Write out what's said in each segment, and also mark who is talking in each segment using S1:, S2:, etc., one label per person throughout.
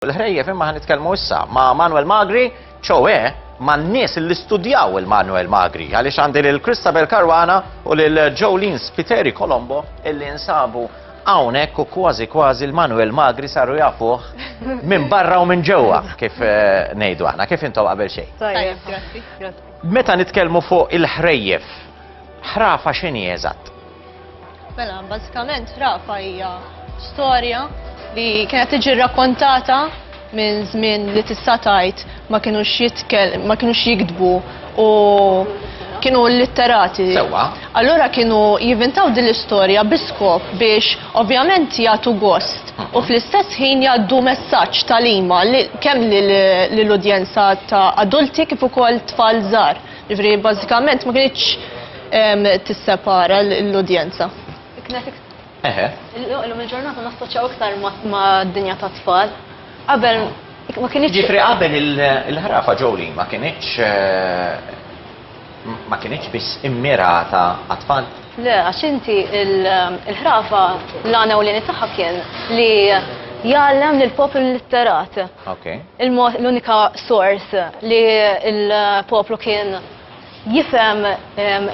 S1: l-ħrejjef imma ħa nitkellmu issa ma' Manuel Magri, ċoe man-nies li studjaw il-Manuel Magri, għaliex għandi lil Christabel Caruana u lil Jolene Spiteri Colombo illi nsabu hawnhekk u kważi kważi l-Manuel Magri saru jafuh minn barra u minn ġewwa kif eh, ngħidu aħna, kif intom qabel xejn. Tajjeb,
S2: grazzi. Meta nitkellmu
S1: fuq il-ħrejjef, ħrafa x'inhi eżatt? Mela,
S2: bażikament Rafa hija storja li kienet tiġi rrakkontata minn żmien li tista' tgħid ma kinux jitkel, ma kinux jiktbu u kienu litterati. Sewwa. Allura
S1: kienu
S2: jivintaw din l-istorja biskop biex ovvjament jagħtu gost u fl-istess ħin jgħaddu messaġġ talima li kemm lill-udjenza ta' adulti kif ukoll tfal żgħar. Ġifri, bazzikament ma kienx ehm, tissepara l-udjenza. Eħe.
S3: Illum il-ġurnata nassoċjaw iktar ma' dinja ta' tfal. Qabel ma kienx. Ġifri qabel
S1: il-ħrafa ġoli ma kienx eh, ma kienx biss immirata għat-tfal. Le, għax inti
S3: il-ħrafa l-għana u l-għani tagħha kien li jgħallem lill-poplu litterat. Okay. L-unika sors li l-poplu kien jifhem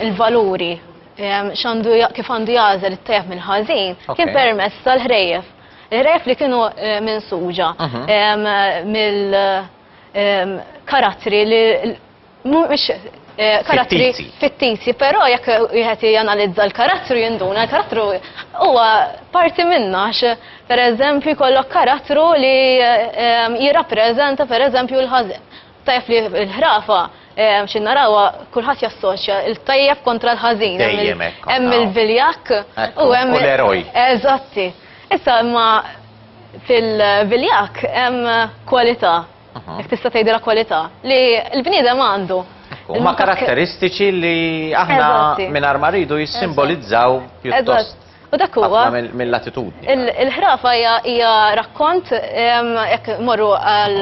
S3: il-valuri xandu kif għandu jażel it-tajjeb mill-ħażin kien permess tal-ħrejjef. Il-ħrejjef li kienu eh, minn suġa mhm. mill-karattri eh, li mhumiex eh, karattri fittizji, però jekk wieħed janalizza l-karattru jinduna, l-karattru huwa parti minna għax pereżempju jkollok karattru li eh, jirrappreżenta pereżempju l-ħażen. Tajf li l-ħrafa eh, xin narawa kulħadd jassoċja il-tajjeb kontra l-ħażin. Hemm il-viljak u hemm l-eroj. Eżatti.
S2: Issa imma fil-viljak hemm kwalità Jek tista' tgħidilha kwalità li l-bniedem għandu. Ma
S1: karatteristiċi li aħna minn ma rridu jissimbolizzaw pjuttost. U dak huwa
S2: mill-attitudni.
S1: Il-ħrafa
S2: hija rakkont jekk morru għal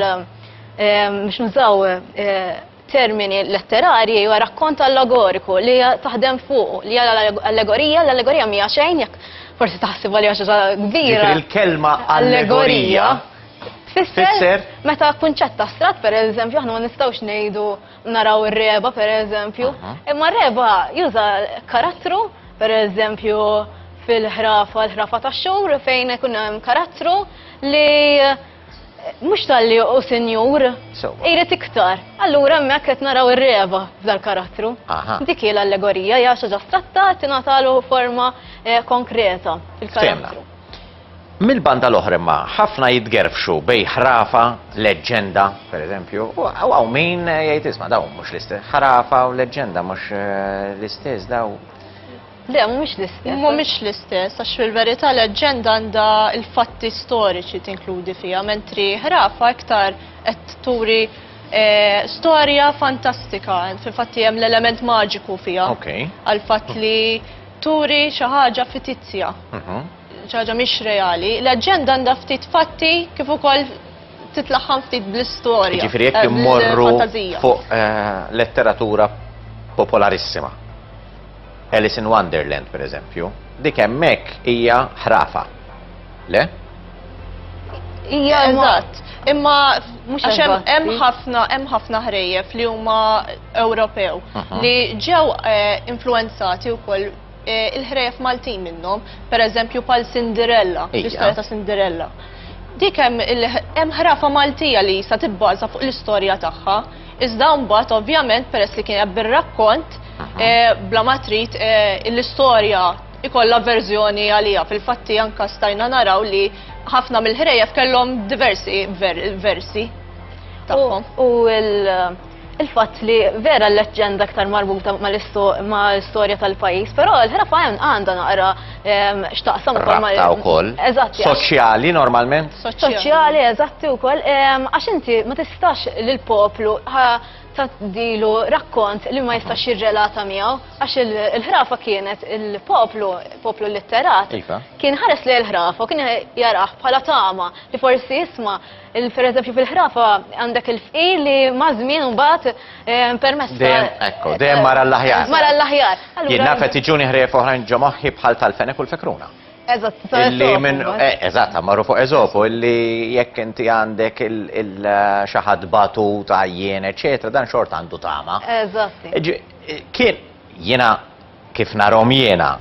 S2: biex nużaw eh, termini letterarji hija rakkont allegoriku li taħdem fuq li hija allegorija, l-allegorija mija xejn jekk forsi taħsib għalija xi kbira. Il-kelma
S1: allegorija
S2: Fisser, meta kunċett astrat, per eżempju, aħna ma nistgħux ngħidu naraw ir-reba, per eżempju, imma r-reba juża karattru, per eżempju, fil-ħrafa, l-ħrafa tax-xhur fejn ikun hemm karattru li Mhux talli u sinjur, irid iktar. Allura hemmhekk qed naraw ir-reba f'dal-karattru. Dik hi l-allegorija hija xi ġa stratta tingħatalu forma eh, konkreta fil-karattru.
S1: Mill-banda l-oħra imma ħafna jitgerfxu bej ħrafa, leġġenda, per eżempju, u għaw min eh, jgħid isma' daw mhux l-istess. Ħrafa u leġġenda mhux eh, l-istess daw. Le, mhumiex
S2: l-istess. Mhumiex l-istess, għax fil-verità leġġenda għandha l-fatti storiċi tinkludi fiha, mentri ħrafa iktar qed turi eh, storja fantastika, fil-fatti hemm l-element maġiku fiha. Okay. Għal-fatt li turi xi ħaġa fitizja. Mhm. Xi ħaġa mhix reali. Leġġenda għandha ftit fatti kif ukoll titlaħħam ftit bl-istorja. Ġifieri jekk eh, immorru
S1: bl-fantażija. fuq eh, letteratura popolarissima. Alice in Wonderland, per eżempju, dik hemmhekk hija ħrafa. Le?
S2: Ija, eżatt. Imma mhux għax hemm ħafna hemm ħafna ħrejjef li huma Ewropew li ġew eh, influenzati wkoll eh, il-ħrejjef Maltin minnhom, per eżempju pal Cinderella, l-istorja ta' Cinderella. Dik hemm ħrafa Maltija li sa tibbaża fuq l-istorja tagħha. Iżda mbagħad ovvjament peress li kienet bir-rakkont eh, bla ma trid eh, l-istorja ikollha verżjoni għalija. Fil-fatti anka stajna naraw li ħafna mill-ħrejjef kellhom diversi versi tagħhom. U
S3: il-fatt li vera l-leġġenda aktar marbuta mal-istorja tal-pajjiż, però l-ħrafa għandha naqra xtaqsam ukoll ma' wkoll.
S1: Eżatt. Soċjali normalment? Soċjali,
S3: eżatti wkoll. Għax inti ma tistax lill poplu taddilu rakkont li ma jistax jirrelata miegħu għax il-ħrafa kienet il-poplu, poplu litterat, iva. kien ħares li l-ħrafa kien jarah bħala tama li forsi jisma' Per eżempju fil-ħrafa għandek il-fqir li mażmin mbagħad eh, permessa. Dejjem ekku, eh, dejjem
S1: mara l-aħjar. Mara l-aħjar. Jien naf qed iġuni ħrejf oħrajn ġo moħħi
S3: bħal
S1: tal-fenek u l-fekruna.
S3: Eżatt, Illi minn, eh,
S1: eżatt, marru fuq eżopu, illi jekk inti għandek il-xaħad eh, batu ta' jien, eccetera, dan xort għandu tama. Eżatt.
S3: Kien,
S1: jena kif narhom jiena,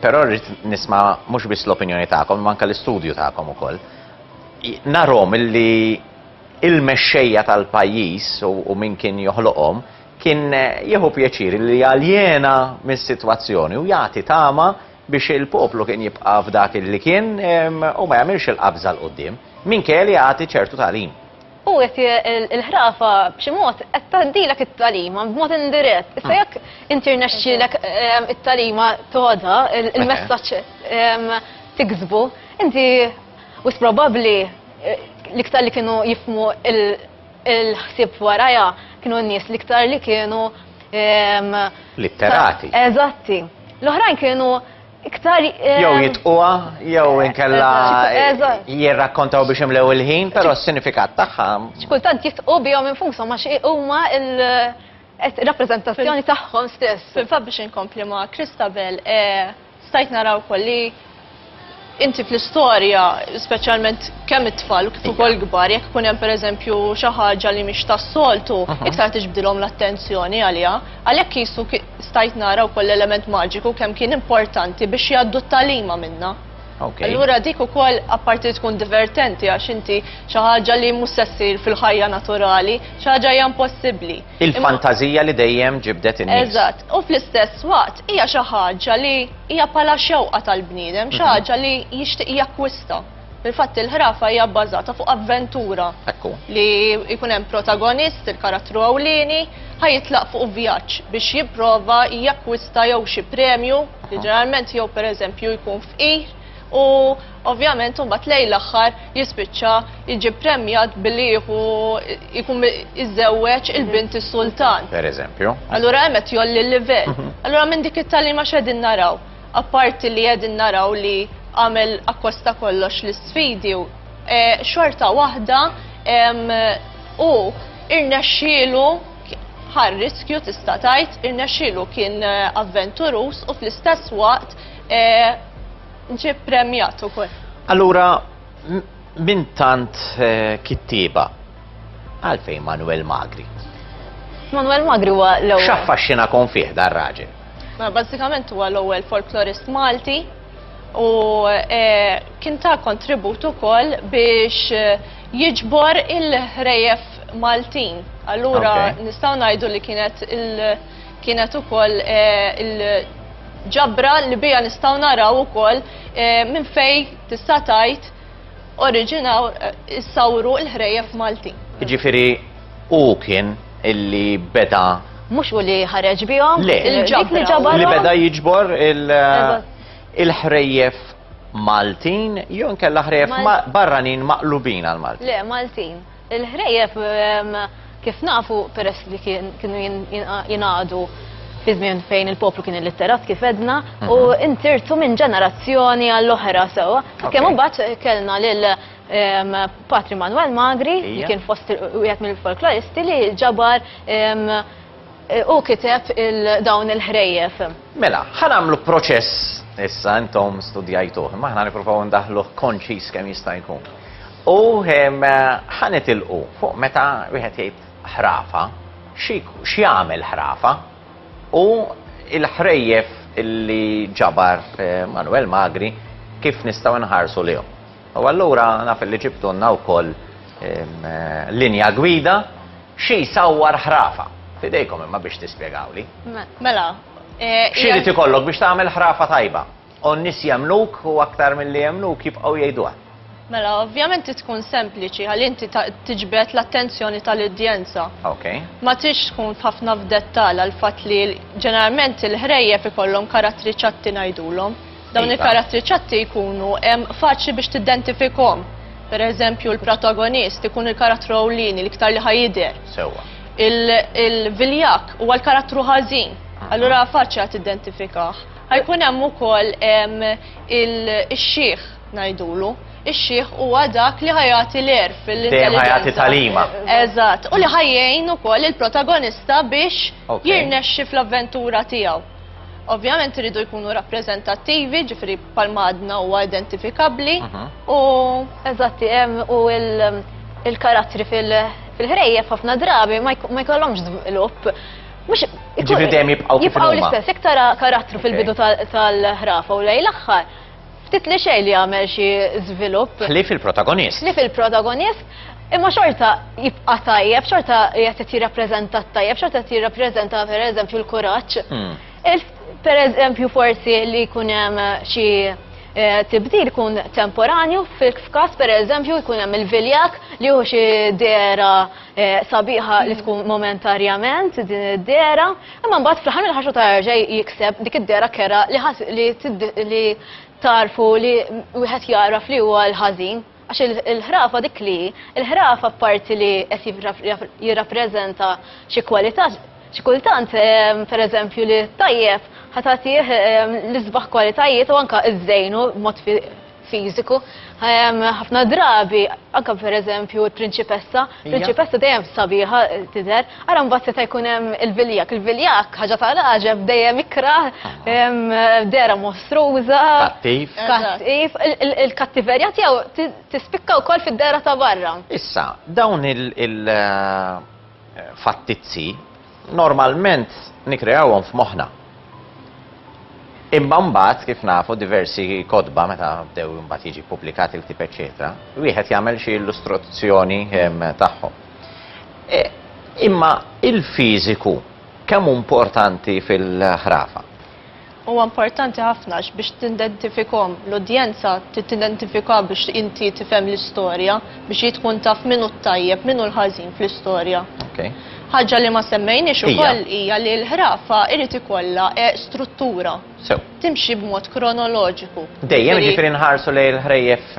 S1: però rrid nisma' mhux biss l-opinjoni tagħkom, imma anke l-istudju tagħkom ukoll. Narhom illi il-mexxejja tal-pajjiż u min kien joħloqhom kien jieħu pjaċir li jaljena mis-sitwazzjoni u jagħti tama biex il-poplu kien jibqa' f'dak illi kien u ma jagħmilx il-qabża 'l quddiem, minkejja li jagħti ċertu tagħlim. U qed
S3: il-ħrafa b'xi mod qed tgħaddilek it-tagħlima b'mod indirett. Issa jekk inti rnexxielek ehm, it-tagħlima toda, il-messaġġ ehm, tiksbu, inti wis probabbli eh, l-iktar li kienu jifmu il-ħsieb warajha kienu n-nies l-iktar li kienu ehm, litterati.
S1: Eżatti.
S3: L-oħrajn kienu Iktar. Eh, jew jitquha,
S1: jew eh, inkella eh, jirrakkontaw biex imlew il-ħin, però s-sinifikat tagħha. X'kultant jitqu
S3: bihom infushom għax huma il- rappresentazzjoni tagħhom stess. Fil-fatt biex inkompli ma'
S2: Kristabel, stajt naraw kolli inti fl-istorja, speċjalment kemm it-tfal kif ukoll kbar, jekk ikun hemm pereżempju xi ħaġa li mhix tas-soltu, iktar tiġbdilhom l-attenzjoni għaliha, għalhekk qisu Stajt nara wkoll l-element maġiku kemm kien importanti biex jgħaddu t-tagħlima minnha. Okay. Allura dik ukoll apparti li tkun divertenti għax inti xi ħaġa li mhux se ssir fil-ħajja naturali, xi ħaġa hija impossibbli. Il-fantażija li
S1: dejjem ġibdet in-nies. Eżatt, u fl-istess
S2: waqt hija xi ħaġa li hija bħala xewqa tal-bniedem, xi mhm. ħaġa li jixtieq jakkwista. Fil-fatt il-ħrafa hija bbażata fuq avventura. Ekku. Li jkun hemm protagonist, il-karattru ewlieni, ħajitlaq fuq vjaġġ biex jipprova jakkwista jew xi premju, li ġeneralment jew pereżempju jkun fqir, u ovvjament imbagħad lejn l-aħħar jispiċċa jiġi premjat billi jieħu jkun iżewweġ il-bint is-sultan. Pereżempju. Allura
S1: hemm qed jgħolli
S2: l-livell. Allura minn dik it-tagħlima x'qegħdin naraw? apparti li qegħdin naraw li għamel akkosta kollox l-isfidi, e, xorta waħda u irnexxielu ħar riskju tista' tgħid, irnexxielu kien e, avventurus u fl-istess waqt e, ġie premjat ukoll. Allura,
S1: minn tant kittieba, Għalfejn Manuel Magri? Manuel
S3: Magri huwa l-ewwel. X'affaxxina kon fih dar
S1: raġel? Ma bażikament
S2: huwa l-ewwel folklorist Malti u e, kien ta' kontribut ukoll biex e, jiġbor il-ħrejef Maltin. Allura nistgħu ngħidu li kienet il kienet ukoll e, il-ġabra li bija nistgħu naraw ukoll minn fej tista' tgħid oriġinaw issawru l-ħrejjef Maltin. Jiġifieri
S1: hu kien illi beda Mhux u li
S3: ħareġ bihom? Le, li
S1: beda jiġbor il-ħrejjef Maltin jew inkella ħrejjef barranin maqlubin għal Maltin. Le, Maltin.
S3: Il-ħrejjef kif nafu peress li kienu jingħadu fi żmien fejn il-poplu kien illitterat kif edna u mhm. intirtu minn ġenerazzjoni għall-oħra sewwa. Kemm imbagħad kellna lil ehm, Patri Manuel Magri li kien fost wieħed mill-folkloristi li ġabar ehm, u kiteb dawn il-ħrejjef. Mela, ħanamlu
S1: proċess issa intom studjajtuh, ma ħna niprofaw ndaħluh konċis kemm jista' jkun. U ħa nitilqu fuq meta wieħed jgħid ħrafa, x'jagħmel ħrafa? U l-ħrejjef li ġabar Manwel Magri kif nistgħu nħarsu lejhom? U allura naf illi ġibtulna wkoll linja gwida xi jsawwar ħrafa. F'idejkom imma biex tispjegawli. Mela,
S2: X'irid
S1: ikollok biex tagħmel ħrafa tajba? U n-nies jemmnuk u aktar milli jemmnuk jibqgħu jgħiduha. Mela, ovvjament
S2: trid tkun sempliċi ħalli inti tiġbed l-attenzjoni tal-udjenza. Ok. Ma tridx tkun f'ħafna f'dettall għall-fatt li ġeneralment il-ħrejjef ikollhom karattri ċatti ngħidulhom. Dawn iva. il-karattri ċatti jkunu faċli biex tiddentifikhom. Per eżempju, l-protagonist ikun il-karattru ewlieni l-iktar li ħajidher. Sewwa. Il-viljak huwa l-karattru ħażin. Allura faċli għad tiddentifikaħ. Ħajkun hemm ukoll ix-xiħ ngħidulu. Ix-xiħ huwa dak li ħajati l-er fil-intelligenza. Ħajati talima.
S1: Eżatt, u li
S2: ħajjejn ukoll il-protagonista biex jirnexxi fl-avventura tiegħu. Ovvjament iridu jkunu rappreżentattivi, ġifri palmadna huwa identifikabbli mhm. u eżatti
S3: hemm u il-karattri fil- fil-ħrejjef ħafna drabi ma jkollhomx żvilupp Mux,
S1: ġifri dejjem jibqaw kif Jibqaw l-istess, iktar
S3: karattru fil-bidu tal-ħrafa u lej l-axħar. Ftit li xej li għamel xi żvilupp. Ħlif il-protagonist.
S1: Ħlif il-protagonist,
S3: imma xorta jibqa tajjeb, xorta jgħet jirrapprezenta tajjeb, xorta jgħet jirrapprezenta per eżempju l-kuraċ. Hmm. Per eżempju forsi li kunem xi eh, tibdil kun temporanju, fil-kas per eżempju jkunem il-viljak li hu xi dera Eh, sabiħa li tkun momentarjament din id-dera, imma mbagħad fl-ħar mill-ħaxu ta' ġej jikseb dik id-dera kera li tarfu li wieħed jara fli huwa l-ħażin. Għax il-ħrafa dik li, il-ħrafa parti li qed jirrappreżenta xi kwalità, xi kultant ehm, pereżempju li tajjeb ħatatih ehm, l-isbaħ kwalitajiet u anka iż-żejnu mod fiżiku. Ehm, ħafna drabi, anke pereżempju l-prinċipessa, prinċipessa dejjem sabiħa eh, tidher, ara mbagħad seta' jkun hemm il-viljak. Il-viljak ħaġa ta' raġeb dejjem ikra, ehm, dera mostruża. Kattiv. Kattiv. Il-kattiverja tiegħu tispikka wkoll fid-dera ta' barra. Issa, dawn
S1: il- eh, fattizzi Normalment nikkreawhom f'moħħna. Imma mbagħad, kif nafu, diversi kotba meta bdew imbagħad jiġi ppubblikat il-ktieb eċċetera, wieħed jagħmel xi illustruzzjoni tagħhom. Imma il-fiżiku kemm hu importanti fil-ħrafa? Huwa
S2: importanti ħafna għax biex tindentifikhom, l-udjenza trid tidentifikha biex inti tifhem l-istorja, biex hi tkun taf min hu t-tajjeb, min hu l-ħażin fl-istorja. Okej. Ħaġa li ma semmejniex Hija. ukoll hija li l-ħrafa jrid ikollha struttura. Sew. Timxi b'mod kronoloġiku. Dejjem, Jiġifieri- jiġifieri
S1: nħarsu lejn il-ħrejjef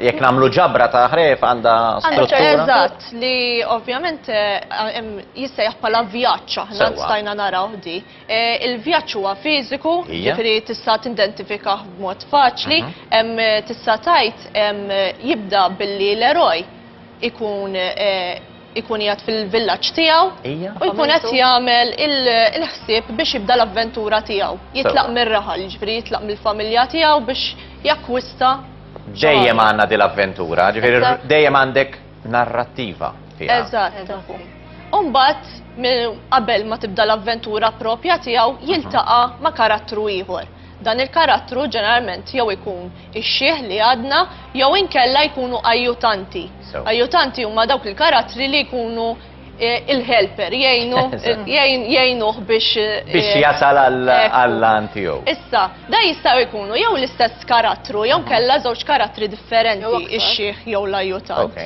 S1: jekk nagħmlu ġabra ta' ħrejjef għandha Għandha struttura? ċertu- Eżatt, li
S2: ovvjament eh, hemm jissejjaħ bħala vjaġġ aħna Sewwa. stajna narawh di. Il-vjaġġ huwa fiżiku, jiġifieri tista' tindentifika b'mod faċli, tista' tgħid jibda billi l-eroj ikun ikun jgħad fil-villaġġ tiegħu u jkun qed jagħmel il-ħsieb biex jibda l-avventura tiegħu. Jitlaq mir-raħal, jiġifieri jitlaq mill-familja tiegħu biex jakkwista. Dejjem
S1: għandna din l-avventura, jiġifieri dejjem għandek. narrattiva fiha. Eżatt.
S2: Umbat, qabel ma tibda l-avventura propja tiegħu, jiltaqa ma' karattru ieħor. Dan il-karattru ġeneralment jew ikun ix-xieħ li għadna jew inkella jkunu ajjutanti. Ajjutanti huma dawk il-karattri li jkunu il-helper jgħinu jgħinuh biex eh, biex jasal
S1: għall-lan tiegħu. Issa, da jista'
S2: jkunu jew l-istess karattru jew mhm. kella żewġ karattri differenti ix-xieħ jew l-ajutant.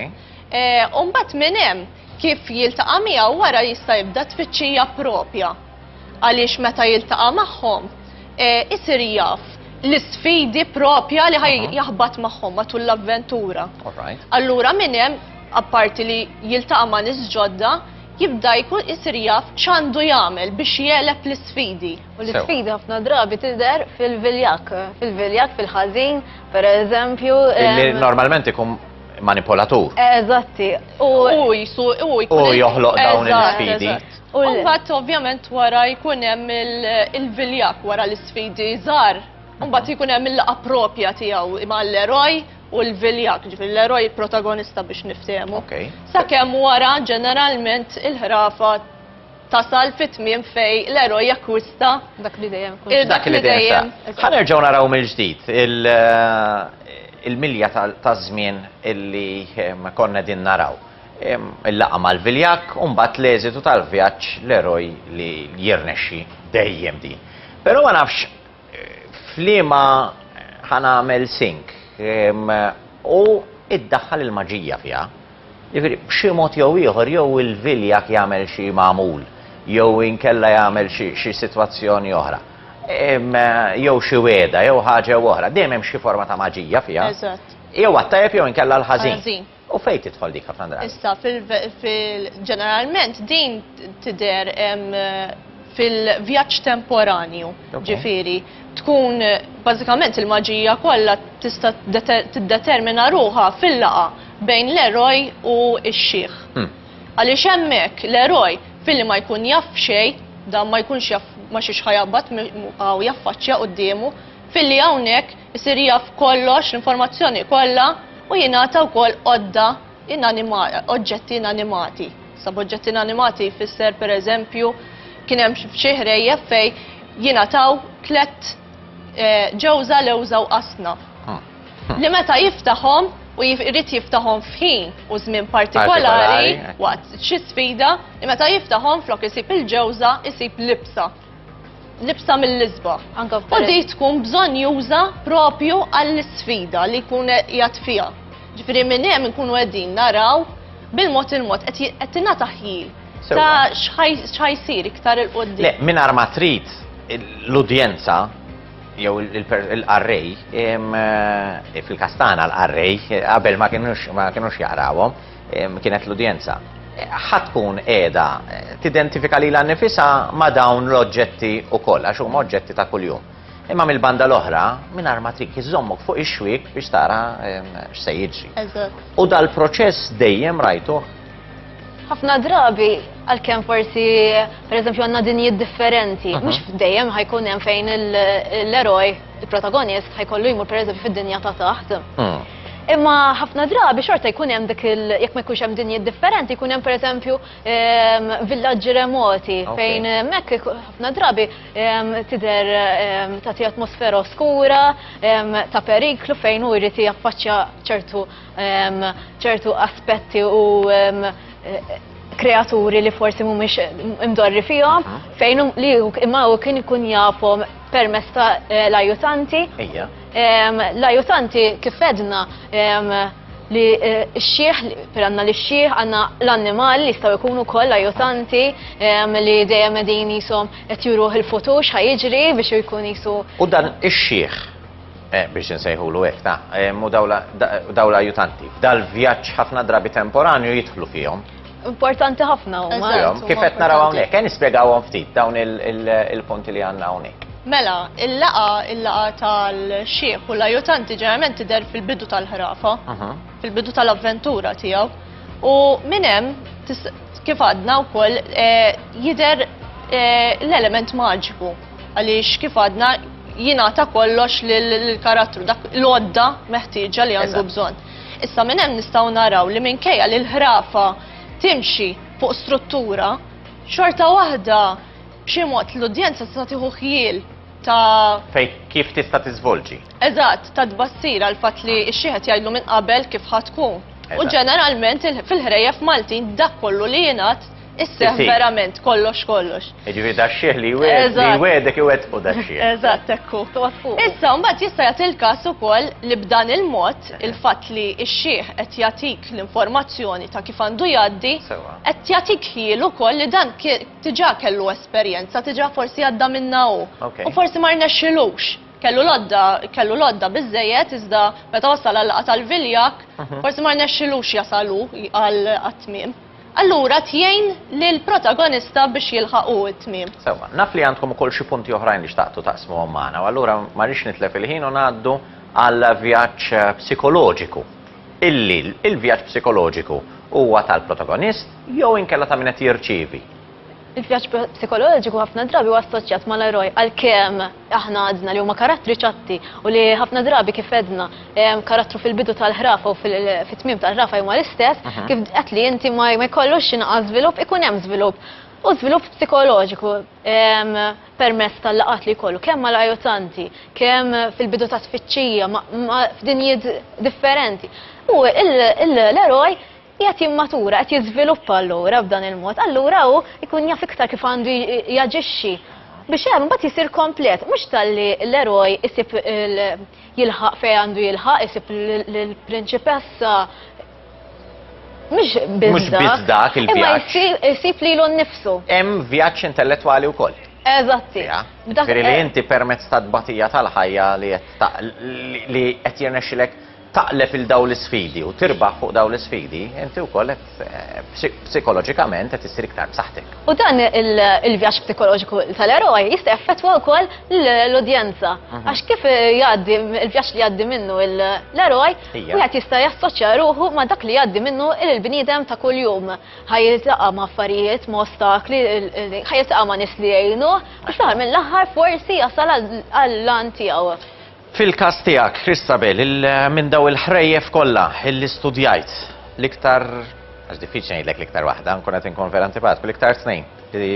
S2: Eh, Umbat minn hemm kif jiltaqa' miegħu wara jista' jibda tfittxija propja. għaliex meta jiltaqa' magħhom isir jaf l-isfidi propja li ħaj jaħbat magħhom matul l-avventura. Allura minn hemm apparti li jiltaqa' ma' nies ġodda, jibda jkun isir jaf x'għandu jagħmel biex jeleb l-isfidi. U l-isfidi ħafna
S3: drabi tidher fil-viljak, fil-viljak, fil-ħażin, per eżempju. Illi normalment
S1: ikun manipolatur. Eżatti.
S3: U jisu,
S1: u jkun. U joħloq dawn l-isfidi. U mbagħad
S2: ovvjament wara jkun hemm il-viljak wara l-isfidi żgħar, u mbagħad jkun hemm il-laqa propja tiegħu mal-eroj u l-viljak, ġifieri l-eroj protagonista biex niftehmu. Okay. Sakemm wara ġeneralment il-ħrafa tasal fit-tmiem fej l-eroj jakkwista dak li dejjem
S3: kun. Dak li dejjem.
S2: Ħanerġgħu naraw
S1: mill-ġdid il-milja taż-żmien illi konna din naraw. il-laqgħa mal-viljakk u mbagħad l-eżitu tal-vjaġġ l-eroj li jirnexxi dejjem din. Però ma nafx f'liema ħanamel sink u iddaħħal il-maġija fiha. Jiġifieri b'xi mod jew ieħor jew il-viljak jagħmel xi magħmul jew inkella jagħmel xi sitwazzjoni oħra. Jew xi wegħda jew ħaġa jew oħra, dejjem hemm xi forma ta' maġija fiha. Eżatt. Jew għat-tajjeb jew inkella l-ħażin. U fejn tidħol dik ħafna drabi? Issa
S2: fil-ġeneralment din tidher fil-vjaġġ temporanju, ġifieri tkun bażikament il-maġija kollha tista' tiddetermina ruħha fil-laqa bejn l-eroj u x-xiħ. Hmm. Għaliex hemmhekk l-eroj filli ma jkun jaf xejn, dan ma jkunx jaf ma xiex ħajabbat u jaffaċċja quddiemu, filli hawnhekk Isir jaf kollox, l-informazzjoni kollha u jingħata wkoll għodda inanima, oġġetti inanimati. Sa b'oġġetti inanimati jfisser pereżempju kien hemm f'xi ħrejjef fejn jingħataw tlett eh, ġewża lewża u qasna. Ah. Li meta jiftaħhom u jrid jiftaħhom f'ħin u żmien partikolari waqt xi sfida li meta jiftaħhom flok isib il-ġewża isib libsa. libsa mill-isba. U di tkun bżonn juża propju għall-sfida li jkun jgħat fija. Ġifiri minn hemm nkunu qegħdin naraw bil-mod il-mod qed tingħata ħjil ta' x'ħajsir iktar il-qoddim. Le, minn ma trid
S1: l-udjenza jew il-qarrej eh, fil-kastana l-qarrej qabel ma kienux jaqrawhom kienet l-udjenza ħa tkun qiegħda tidentifika lilha nnifisha ma' dawn l-oġġetti wkoll għax huma oġġetti ta' kuljum. Imma mill-banda l-oħra, mingħajr ma trik iżommok fuq ix-xwiek biex tara x'se jiġri. U dal-proċess dejjem rajtu. Ħafna
S3: drabi għalkemm forsi pereżempju għandna dinjiet differenti, mhm. mhux f'dejjem ħajkun hemm fejn l-eroj, il-protagonist ħajkollu jmur pereżempju fid-dinja ta' taħt. Mm. Imma ħafna drabi xorta jkun hemm dik il jekk ma jkunx hemm dinjiet differenti, jkun hemm pereżempju ehm, villaġġi remoti fejn hemmhekk eh, ħafna drabi ehm, tidher ehm, tagħti atmosfera oskura ta' periklu fejn hu jrid jaffaċċja ċertu ċertu aspetti u eh, kreaturi li forsi mhumiex imdorri fihom fejn li imma hu kien ikun jafhom permess ta' eh, l-ajutanti. L-ajutanti kif edna li eh, xieħ, per għanna li xieħ, għanna l-annimal li jistaw ikunu koll ajutanti li dejjem edin jisom qed juruħ il-futur xħajġri biex jkun jisu. U dan ix-xieħ,
S1: eh, biex nsejħu l ta' eh, mu dawla ajutanti, dal-vjaġġ ħafna drabi temporanju jidħlu fihom. Importanti ħafna
S3: u Eżatt. Kif qed naraw hawnhekk,
S1: ejja nispjegawhom ftit dawn il-punti li għandna hawnhekk. Mela, il-laqgħa
S2: il-laqgħa tal-xiħ u l-ajutanti ġeneralment tidher fil-bidu tal-ħrafa, fil-bidu tal-avventura tiegħu. U minn hemm kif għadna wkoll eh, jidher eh, l-element maġiku għaliex kif għadna jingħata kollox lill-karattru dak l-għodda meħtieġa li għandu bżonn. Issa minn hemm nistgħu naraw li minkejja li l-ħrafa timxi fuq struttura, xorta waħda b'xi mod l-udjenza tista' tieħu ħjiel ta' Fej kif tista'
S1: tiżvolġi. Eżatt, ta'
S2: tbassir għal fatt li x-xieħet jgħidlu minn qabel kif ħa tkun. U ġeneralment fil-ħrejjef Maltin dak kollu li jingħad Isseħ Isir. verament kollox kollox. Ġifieri da
S1: xieħ li wed- li Eżatt. wedek iwettqu da xieħ. Eżatt ekku. Toqgħod
S2: fuq. Issa mbagħad jista' jagħti il-każ ukoll li b'dan il-mod il-fatt li x-xieħ qed jagħtik l-informazzjoni ta' kif għandu jgħaddi Sewa. qed jagħtik ħiel ukoll li dan ki- diġà kellu esperjenza, diġà forsi għadda minna hu. Ok. U forsi ma rnexxilux. Kellu lodda, kellu lodda biżejjed iżda meta wasal għal laqgħa tal-viljak, forsi ma rnexxilux jasalu għal għat-tmiem. Allura tgħin lill-protagonista biex jilħaq hu t-tmiem. Sewwa, naf li għandkom
S1: ukoll xi punti oħrajn li xtaqtu taqsmuhom magħna u allura ma rridx nitlef il-ħin u ngħaddu għal vjaġġ psikoloġiku. Illi l-vjaġġ psikoloġiku huwa tal-protagonist jew inkella ta' min qed jirċievi. Il-vjaġġ
S3: psikoloġiku ħafna drabi huwa assoċjat mal-eroj għalkemm aħna għadna li huma karattri ċatti u li ħafna drabi kif għedna karattru fil-bidu tal-ħrafa u fit-tmiem tal-ħrafa huma l-istess, kif qed li inti ma jkollux x'inqas żvilupp ikun hemm żvilupp u żvilupp psikoloġiku permezz tal-laqgħat li jkollu kemm mal-ajutanti, kemm fil-bidu ta' tfittxija f'dinjiet differenti. U l-eroj Qiegħed jimmatura, qed jiżviluppa allura b'dan il-mod, allura hu jkun jaf iktar kif għandu jaġixxi biex hemm imbagħad jisir komplet, mhux talli l-eroj isib jilħaq fejn għandu jilħaq, isib lill-prinċipessa mhux biss dak il-vjaġġ. Imma jsib lilu nnifsu. Hemm vjaġġ
S1: intellettwali wkoll. Eżatti.
S3: Dak li
S1: inti permezz tat-tbatija tal-ħajja li qed li qed jirnexxilek taqleb 'il dawn l-isfidi u tirbaħ fuq dawn l-isfidi, inti wkoll qed psikoloġikament qed issir iktar b'saħħtek. U dan
S3: il-vjaġġ psikoloġiku tal-eroj jista' jaffettwa wkoll l-udjenza. Għax kif jgħaddi l-vjaġġ li jgħaddi minnu l-eroj, wieħed jista' jassoċja ruħu ma' dak li jgħaddi minnu l-bniedem ta' kuljum. Ħa jiltaqa' ma' affarijiet, ma' ostakli, ħa jiltaqa' ma' nies li jgħinuh, u fl-aħħar mill-aħħar forsi jasal għall-għan tiegħu. Fil-każ
S1: tiegħek, Christabel, il minn daw il-ħrejjef kollha illi studjajt, l-iktar, għax diffiċli ngħidlek l-iktar waħda, nkun qed inkun vera antipatiku, l-iktar tnejn li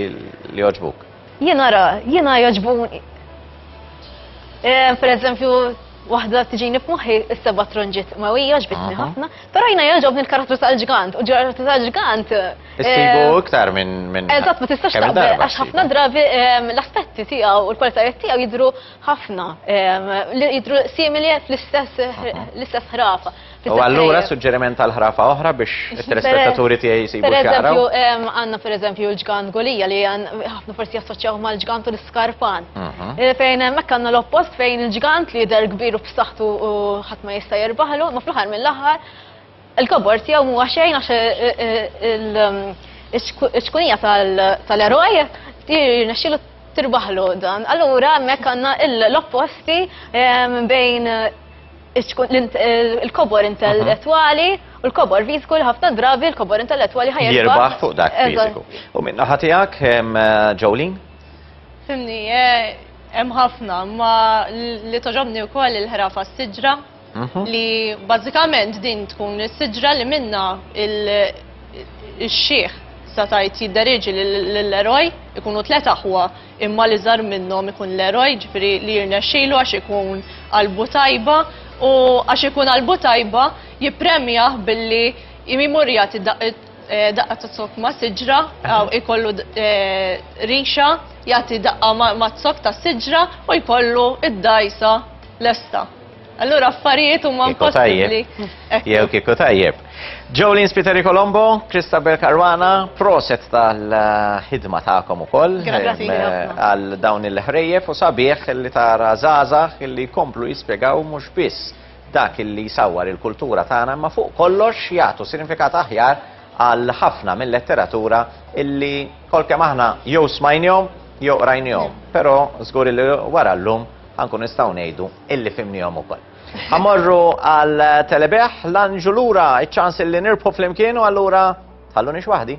S1: li jogħġbuk? Jiena ra, jiena
S3: jogħġbuni. Eh, per eżempju, waħda tiġini f'moħħi s-seba' tronġiet ma hija ġbitni ħafna, però jiena jogħġobni l-karattru tal-ġgant u l-karattru tal-ġgant. Issibu eh,
S1: iktar minn. Eżatt, ma tistax taqbel
S3: għax ħafna drabi eh, l-aspetti tiegħu u l-kwalitajiet tiegħu jidhru ħafna li jidru simili fl-istess l-istess ħrafa. U allura
S1: suġġeriment għal ħrafa oħra biex it-telespettaturi tiegħi jsibu Per eżempju, għandna per eżempju
S3: l-ġgant gulija li ħafna forsi jassoċjaw mal-ġgant u l-iskarpan. Mhm. Eh, fejn hemmhekk għandna l-oppost fejn il-ġgant li jidher kbir u b'saħħtu u ħadd ma jista' jirbaħlu, ma fl-aħħar mill-aħħar Il-kobor tiegħu mhuwa xejn għax il-ċkunija tal-eroj jirnexxilu tirbaħlu dan. Allura hemmhekk għandna l-opposti bejn il-kobor intellettwali u l-kobor fiżiku li ħafna drabi l-kobor intellettwali ħajja. Jirbaħ fuq dak
S1: fiżiku. U minna ħatijak, Jolene? Fimni,
S2: eh, hemm ħafna, ma li toġobni wkoll il-ħrafa s-siġra Mhm. li bażikament din tkun is-siġra li minna il-xieħ sa tajt jidderieġi l-eroj ikunu tlet aħwa imma li żar minnhom ikun l-eroj ġifri li jirnexxilu għax ikun qalbu tajba u għax ikun qalbu tajba jippremjah billi jimur jagħti eh, daqqa ta' sok ma' siġra għaw mhm. ikollu eh, rixa jagħti daqqa ma' sok ta' siġra u jkollu id-dajsa lesta. Allura affarijiet huma impossibbli. Jew kieku
S1: tajjeb. Jolene Spiteri Colombo, Kristabel Karwana, proset tal-ħidma tagħkom ukoll għal dawn il-ħrejjef u sabiħ li tara żgħażagħ li jkomplu jispjegaw mhux biss dak li jsawwar il-kultura tagħna ma fuq kollox jagħtu sinifikat aħjar għal ħafna mill-letteratura illi kolkemm aħna jew smajnjom jew rajnjom, però żgur li wara llum Ħa nkunu nistgħu ngħidu illi fhimniehom ukoll. Ħa mmorru għal Telebih, l-Anġu lura, iċ-ċans illi nirbħu flimkien u allura ħalluni x'waħdi.